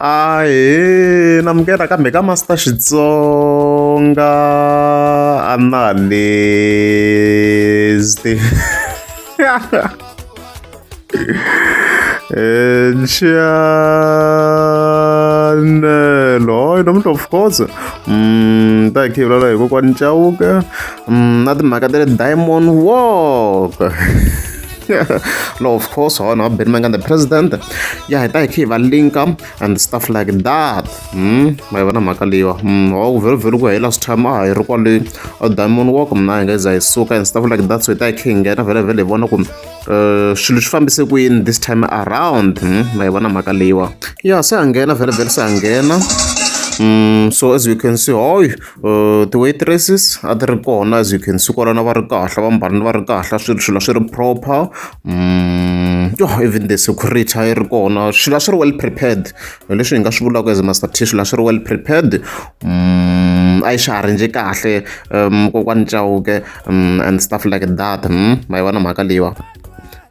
ahe namukela kambe ka master xitsonga analyst chanelo hoy nomuntu of course um ta hi khivulala hi kokwani chauke um na timhaka ta le diamond walk no of course ho no been mangan the president ya hi ta hi va linka and stuff like that hmm ma vona mhaka leyiwa hmm ho vhelo vhelo ku hi last time a hi ri kwale a diamond walk mina hi nga za hi suka and stuff like that so hi ta hi khe hi nghena vhele vhele hi vona ku eh, swilo swi fambise ku yini this time around hmm ma hi vona mhaka leyiwa ya se a nghena vhele vhele se a nghena hmm so as you can see hoy Ti-waitresses a ti ri kona as you can see kwalano a va ri kahle va mbarile va ri kahle swi swilo a swi ri proper yho even the security a yi ri kona swilo a swi ri well prepared hi leswi hi nga swi vulaka as master t swilo a swi ri well prepared a yi xaharenje kahle kokwani Chauke and stuff like that ma yi vona mhaka leyiwa.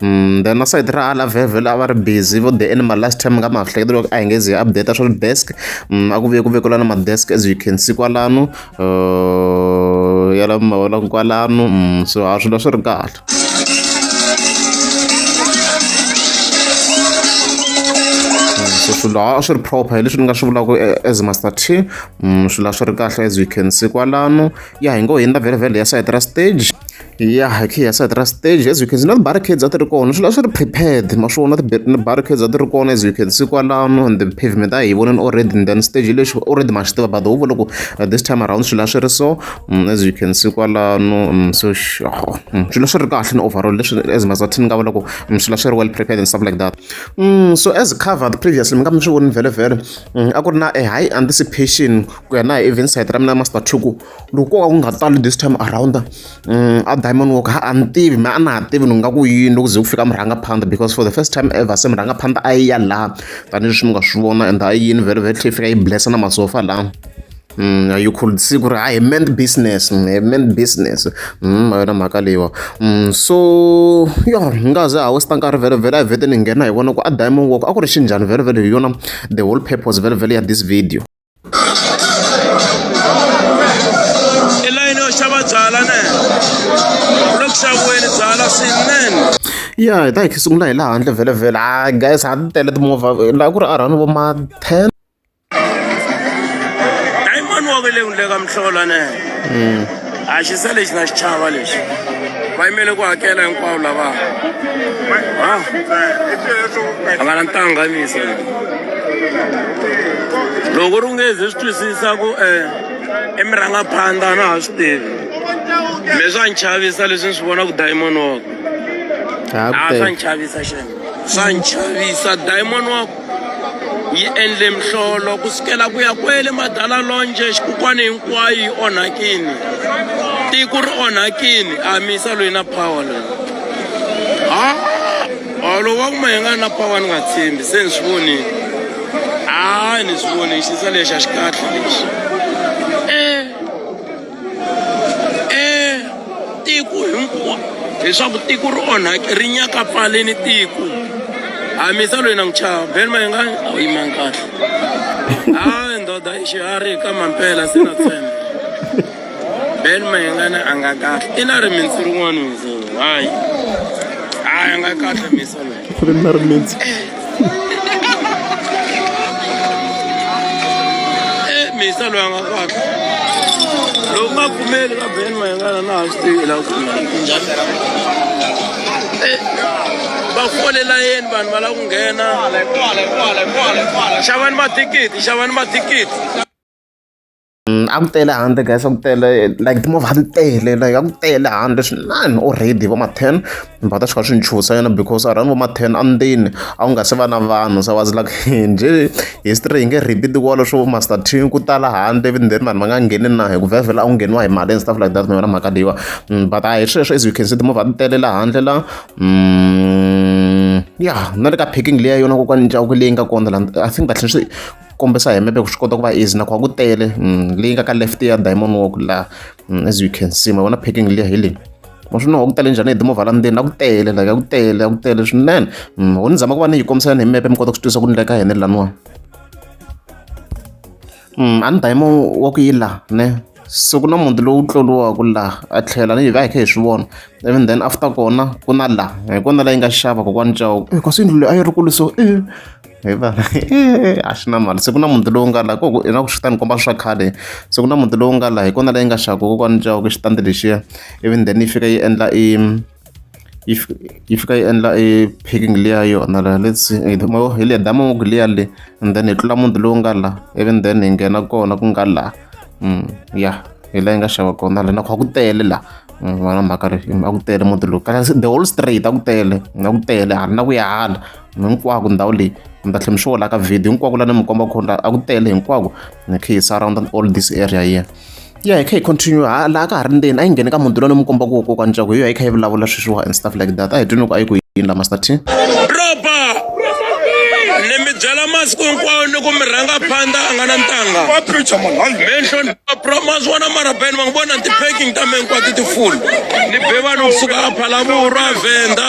Mm, then na side ra ala vevel a va ri busy vo the animal last time ka mahlekete loko a hi nge zi hi update swa desk mm, a ku vuye ku vekela na madesk as you can see kwalano uh, ya lava mavonaka kwalano mm, so ha swilo swi ri kahle so swilo a swi ri proper hi leswi ni nga swi vulaka eh, as master t swilo a swi ri kahle as you can see kwalano ya hi ngo hi nda vhele vhele ya side ra stage ya hi kha hi ya side ra stage as you can see na ti-barricades a ti ri kona swi la swi ri prepared ma swi vona ti-barricades a ti ri kona as you can see kwalano and the pavement a hi voneni already and then stage lexi already ma swi tiva but huvo loko uh, this time around swi la swi ri so mm, as you can see kwalano mm, so oh, mm, swi la swi ri kahle ni overall leswi as mazathini nga vona ku swi la swi ri well prepared and stuff like that so as covered previously mi nga mi swi voni vhele vhele a ku ri na a high anticipation ku ya na hi event side ra mina master two ku loko ko ka ku nga tali this time around a diamond walk ha a ni tivi me a na ha tivi ni nga ku yini loko ze ku fika murhangaphandha because for the first time ever se murhangaphandha a yi ya laha tanihileswi mi nga swi vona and a yini very very tlhe yi fika yi blessa na masofa laha Mm, you could see ku ri hayi meant business mm, meant business mm, yona mhaka leyiwa mm, so yo ni nga ze ha westa nkarhi vele vele a hi vete ni nghena hi vona ku a diamond walk a ku ri xinjhani vele vele hi yona the whole purpose vele vele ya this video i layini yo xava byala ne loko xaviweni byala swinene ya hi ta hi sungula hi laha handle vhelevhele a ah, guys ha ti tele timovha laha ku ri a rhani vo ma ten diamond wa ku le ka mihlola ne hmm. a xi se lexi na xichava lexi va yimele ku hakela hinkwavo lava a nga na ntanganiso loko ri nge ze swi twisisa ku um i mirhangaphandla na ha swi tivi me swa ni chavisa leswi ni swi vonaka diamond wako a swa ni chavisa xana swa ni chavisa diamond wako yi endle mihlolo ku sukela ku ya kwele madala lonje xikukwana hinkwayo yi onhakini tiko ri onhakini a mi yisa loyi na power loyi ha olo wa kuma hi nga na power ni nga tshembi se ni swi vonile a ni swi vonile xisa lexi a xi kahle lexi tiko hinkwa leswaku tiko ri onhake ri nyakapfaleni tiko hamisa loyi na n'wi chava ben mayengani a wu yimangi kahle hayi ndoda i xiharhi ka mampela se na tshemba ben mayengani a nga kahle i na rimitsi rin'wana hayi hayi a nga kahle misa loyi eh, misa loyi a nga kahle loko nga kumeli ka ben mayengana na ha swi tivi la ku eh, va folela yeni vanhu va lava ku nghena xavani mathikithi xavani mathikithi Mm, a ku tele handle guys a ku tele like timovha ti tele like a ku tele handle swinani already va ma-ten va ta swi kha swi nchusa yena because around va ma-ten andzeni a ku nga se va na vanhu se was like njhe history hi nge repeat wolo swo master t ku tala handle even then vanhu va nga ngheni na hi ku vhevhela a ku ngheniwa hi mali and stuff like that mi vona mhaka leyiwa mm, but a hi sweswo as you can see timovha ti tele la handle la mm, ya na le ka packing leya yona kokwani ncaku leyi nga kona la i think kahle swi kombisa hi mepe ku swi kota ku va easy nakhoa ku tele mm, leyi nga ka left ya diamond walk laha mm, as you can see ma vona packing liya hi leyi ma swi noho ku tele njhani hi timovha la ndzeni a ku tele like a ku tele a ku tele swinene mm, ho ni zama ku va ni yi kombisa ni hi mepe mi kota ku swi twisa ku ni le ka hene laniwa a ni diamond walk yi laha ne se ku na muti lowu tloliwaka laha a tlhela ni hi va hi kha hi swi vona even then after kona ku na laha hi kona la yi nga xava kokwani cawo eh, kasi yindlu leyi a yi ri kulu so e hi va a swi na mali se ku na muti lowu nga laha ku na ku swi ta ni komba swa khale se ku na muti lowu nga laha hi kona leyi nga xaka kokwani jawu ke xitandi lexiya ivi then yi fika yi endla i yi fika yi endla i picking liya yona la let's mo hi liya dama ngoko liya le and then hi tlula muti lowu nga laha ivi then hi nghena kona ku nga laha mm, ya hi laha yi nga xava kona la na kha ku tele laha mm, vana mhaka ri a ku tele muti lowu kasi the whole straight a ku tele a ku tele hala na ku ya hala hinkwako ndhawu leyi mi ta tlhela mi swi vona ka video hinkwako laha ni mi komba khona a ku tele hinkwako ni khe hi sa around all this area here ya hi kha hi continue ha laha ka ha ri ndzeni a yi ngheni ka muti lowu ni mi kombaka wo kokwa ncaku hi yo a yi kha yi vulavula sweswiwa and stuff like that a hi twi ni ku a yi ku yini la master t roba ni mi byela masiku hinkwawo ni ku mi rhanga phanda a nga na ntanga minhlonipha promas wona marabeni va ngi vona ti-packing ta me hinkwato ti-full ni be vanhu kusuka a phalavo u ra venda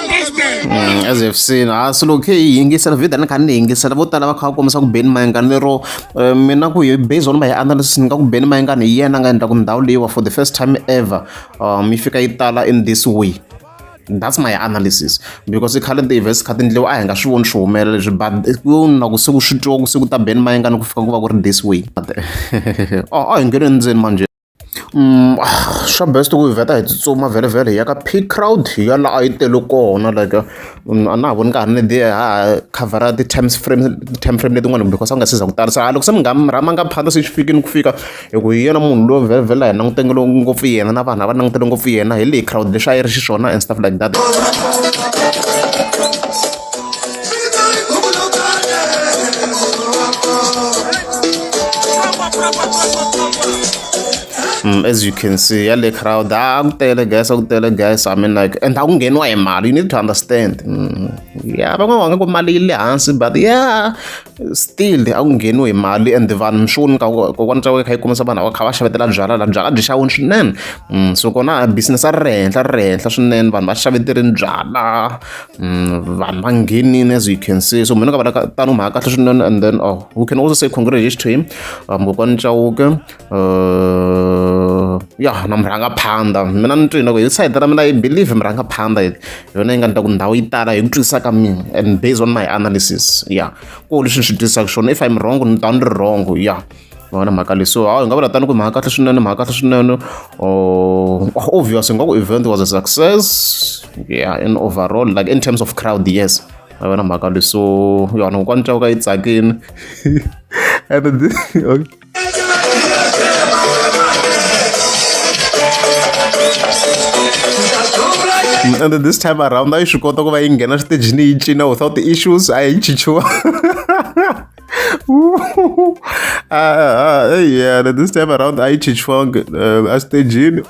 Mm, as if seen ha ah, swilo khe yi yingisela video ni kha ni yingisela vo tala va kha va kombisa ku beni mayengani lero eh, mina ku hi based on my analysis ni nga ku beni mayengani hi yena nga endla ku ndhawu leyiwa for the first time ever um yi fika yi tala in this way that's my analysis because i khale ti-events kha ti ndliwa a hi nga swi voni swi humelela leswi but ku na ku se ku swi twa ku se ku ta beni mayengani ku fika ku va ku ri this way a oh, oh, hi ngheni endzeni manje Swa best ku hi vheta hi tsutsuma vhele-vhele hi ya ka peak crowd hi ya laha a yi tele kona like a na ha voni ka ha ri ni dzi ya ha khavhara ti-time frame ti-time frame leti n'wana because a wu nga se za ku tala se hala loko se mi nga mi rhanga phanda se swi fikile ku fika hi ku hi yena munhu loyi vhele-vhele a hi langutele ngopfu yena na vanhu lava langutele ngopfu yena hi leyi crowd lexi a yi ri xiswona and stuff like that. Mm, as you can see yale crowd ah ku tele guys ku tele guys i mean like and akungeniwa hi mali you need to understand mm, yeah van'wana ku mali yi le hansi but yeah still akungeniwa hi mali and vanhu mixoni kokwana tsakwe kha yi kumisa vanhu va kha va xavetela byala la byala byi xawini swinene mm, so kona business a ri ri henhla ri ri henhla swinene vanhu va xaveterini byala vanhu va nghenini as you can see so mina ka vana tano mhaka kahle swinene and then oh we can also say congratulations to him mkokwani chauke uh, ya na murhangaphandha mina ni twini loko hi side ra mina i believe murhangaphandha hi yona yi nga ni ta ku ndhawu yi tala hi ku twisisa ka mina and based on my analysis ya ko leswi ni swi twisisaka swona if im wrong ni ta ni ri wrong ya va na mhaka leyi so hawu hi nga vula tani ku mhaka kahle swinene mhaka kahle swinene or oh, obvious nga ku event was a success yeah in overall like in terms of crowd yes va va na mhaka leyi so yona kokwani ntlawu ka yi tsakini and okay. and this time around a yi swi kota ku va yi nghena switejini yi cina without issues a yi chichiwa uh, uh, yeah, this time around I teach funk uh, as the gene.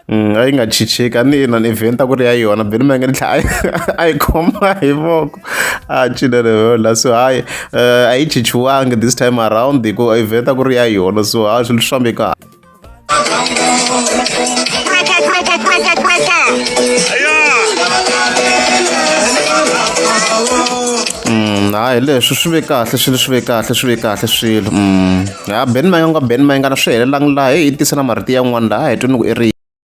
Mm, a yi nga chicheki a ni yena ni event a ku ri ya yona beni ma nga ni tlhela a yi khoma hi voko a cinele yola so hayi eh, a yi chichiwangi this time around hikuva event a ku ri ya yona so hayi swilo swi fambeka hayi leswi swi ve kahle swilo swi ve kahle swi ve kahle swilo mm. ya ben mayonga ben mayingana swi helelangi laha hi tisela marito yan'wana laha hi twi ni ku i ri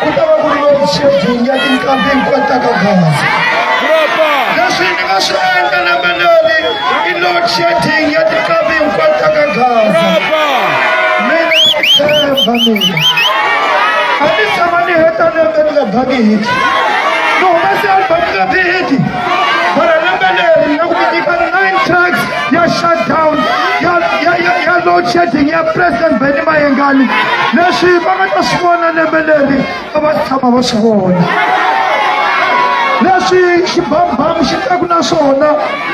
ku ta va ku ri loku xebini ya tinkambi hinkwato ta ka gaza leswi ni nga swi endla na manani i load shedding ya tinkambi hinkwato ta ka gaza mina ni tshemba mina a ni tshama ni heta lembe ni nga bangi hiti ni humese album ni nga ti hiti ya shutdown ya ya ya ya load shedding ya president Benny Mayengani leswi va nga ta swi vona lembe leri a va tshama va swi vona leswi xibambam xi teku na swona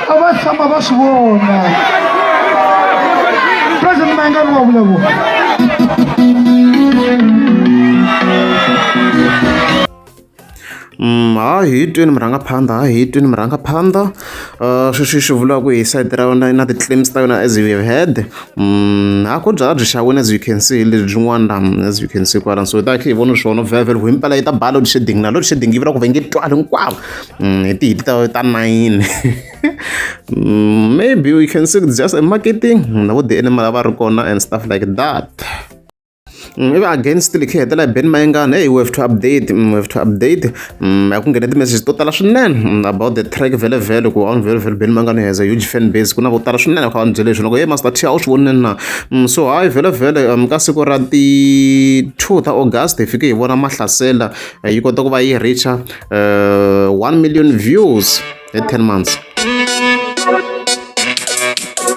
a va tshama va swi vona president Mayengani wa vulavula Ha hi yi twini murhangaphandha ha hi yi twini murhangaphandha sweswi swi vula ku hi side ra wena na ti-claims ta wena as we have heard ha ku byalwa byi xa wena as you can see lebyi byin'wana la as you can see kwala so hi ta hi tlhe hi vona swona vhele himpela yi ta ba load shedding na load shedding yi vula ku va yi nge twali hinkwavo hi ti hit ta ta nayini maybe we can see just a marketing na vo ti-animal a va ri kona and stuff like that. Mm, ivi against likhe hi hetela hi ben mayengana hey we have to update mm, we have to update mm, ya ku nghena ti-message to tala swinene mm, about the track vele vele ku on vele vele ben mayengana has a huge fan base ku na vo tala swinene kha va ni byele leswi loko ye master t a wu swi vonile na mm, so hayi vele vele um, ka siku ra ti-two ta august hi fike hi vona mahlasela eh, yi kota ku va yi reacha uh, one million views at 10 months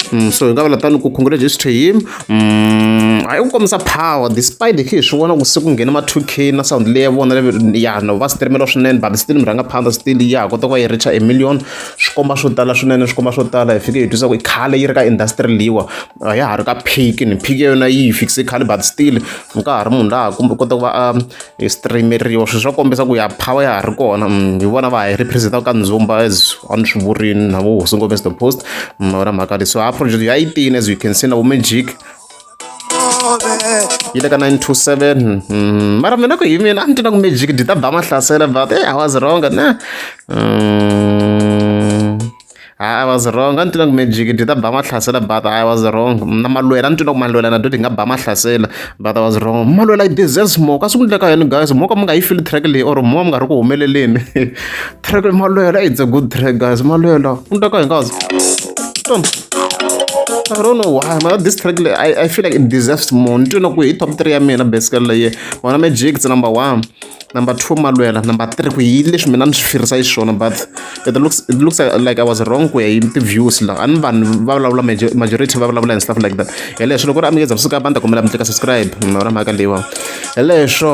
Mm, so hi nga vula tani ku congratulations to him mm, hayi ku kombisa power despite khe hi swi vona ku se ku nghena ma 2 k na sound leyi ya vona ya no va streamela swinene but still mi rhanga phanda still ya kota ku va yi richa a million swi komba swo tala swinene swi komba swo tala hi fike hi twisa ku i khale yi ri ka industry leyiwa a ya ha ri ka phiki ni phiki ya yona yi yi fikise khale but still nkarhi munhu laha kumbe kota ku va a hi streameriwa swilo swa kombisa ku ya power ya ha ri kona mm, hi vona va hi representaka ka ndzumba as a ni swi vurini na vo hosi ngombe the post mm, wona mhaka leyi so ha project ya 18 as you can see na vo magic yi le ka 927 mm, mara mina ku hi mina a ni tiva ku magic dyi ta ba mahlasela but hey, i was wrong na I was wrong a ni twile ku magic dyi ta ba mahlasela but I was wrong na malwela a ni twile ku malwela na dyi nga ba mahlasela but I was wrong malwela yi deserves more ka swi ku endleka yini guys mo ka mi nga yi fili track leyi or mo mi nga ri ku humeleleni track malwela it's a good track guys malwela ku endleka hi nkazi I don't know why, man. This track, I, I feel like it deserves more. Nitwina ku hi top 3 ya mina basically leye. Wana Magic number 1. number two malwela number three ku yini leswi mina ni swi firisa yi swona but it looks it looks like i was wrong ku ya hi ti-views la a ni vanhu va vulavula majority va vulavula and stuff like that hi leswo loko ri a mi ngeza kusuka banda kumela mi tlika subscribe mara mhaka leyiwa hi leswo